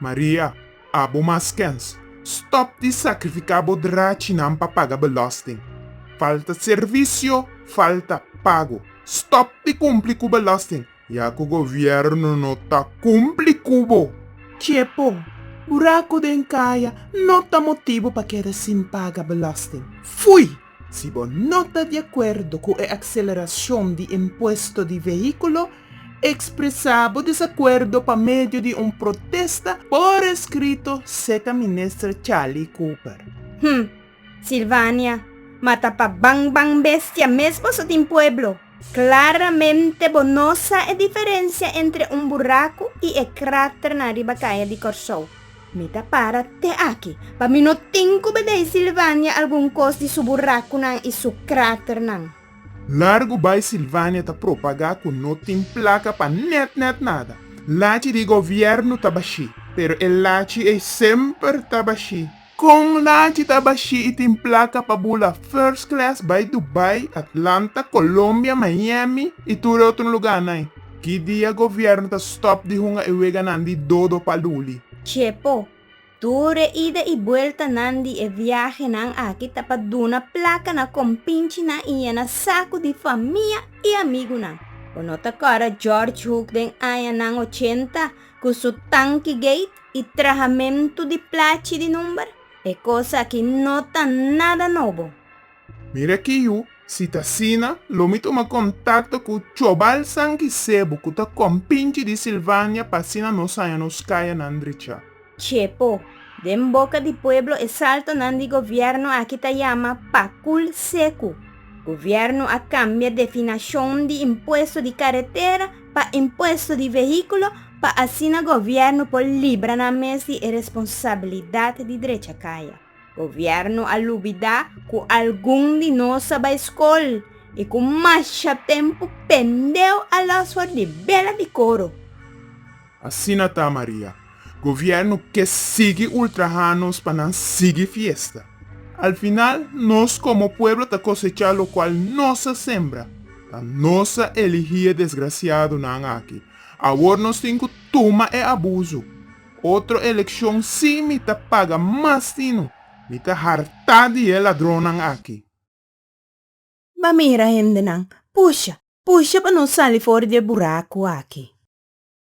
Maria, Abo mas kèns. Stòp di sakrifiká bo drachinan pa paga belòsting. Falta servisio, falta pago. Stòp di kumpli ku belòsting, ya ku gobièrnu no ta kumpli ku bo. Chepo, Buraku den kaya no ta motibu pa keda sin paga belòsting. Fui! Si bo no ta di acuerdo cu e acceleracion di impuesto di vehiculo, expresa bo desacuerdo pa medio di un protesta por escrito, seca Minister Charlie Cooper. Hm! Silvania, mata pa ban ban bestia mes boso tin pueblo! Claramente bo no sa e diferencia entre un buraku y e krater na riba kaya di Kòrsou. Mi ta para te aki, pa mi no tin ku bedei Silvania algun kos di su burakunan y su kraternan. Largu bai Silvania ta propagá ku no tin plaka pa nèt nèt nada. Lachi di govièrnu ta bashí, pero e lachi ei semper ta bashí. Con lanchi ta bashí y tin placa pa bula first class bay Dubai, Atlanta, Colombia, Miami y tur e otro lugarnan. Ki dia gobierno ta stop di hunga e weganan di dodo pa luli? Chepo, tur e ida y bueltanan di e viahenan aki ta pa duna placa na compinchinan y yena sacu di famia y amigunan. Bo no ta cora George Hook den añanan ochenta cu su Tanki Gate? i trahamentu di plachi di number, e kos aki no ta nada nobo. Mira aki yu, si ta asina, lo mi tuma kontakto ku chobalsan ki sebu ku ta kompinchi di Silvania pa asina nos haña nos kayanan drechá. Chepo, Den boka di pueblo e saltonan di gobièrnu aki ta yama pakul seku. Gobièrnu a kambia definashon di impuesto di karetera, pa impuesto di vehiculo pa asina gobierno por libra nan mes di e responsabilidad di drecha caya. Gobierno a lubida cu algun di nos a bay scol y cu masha tempo pendeu a los for di bela di coro. Asina ta Maria. Gobierno ke sigui ultraha nos pa nan sigui fiesta. Al final nos komo pueblo ta kosecha lokual nos a sembra. Ta nos a eligi e desgrasiadonan aki. Awor nos tin ku tuma e abuso. Otro elekshon si mi ta paga mas di no. Mi ta hartá di e ladronnan aki. Ba mira hendenan, pusha, pusha pa nos sali for di e buraku aki.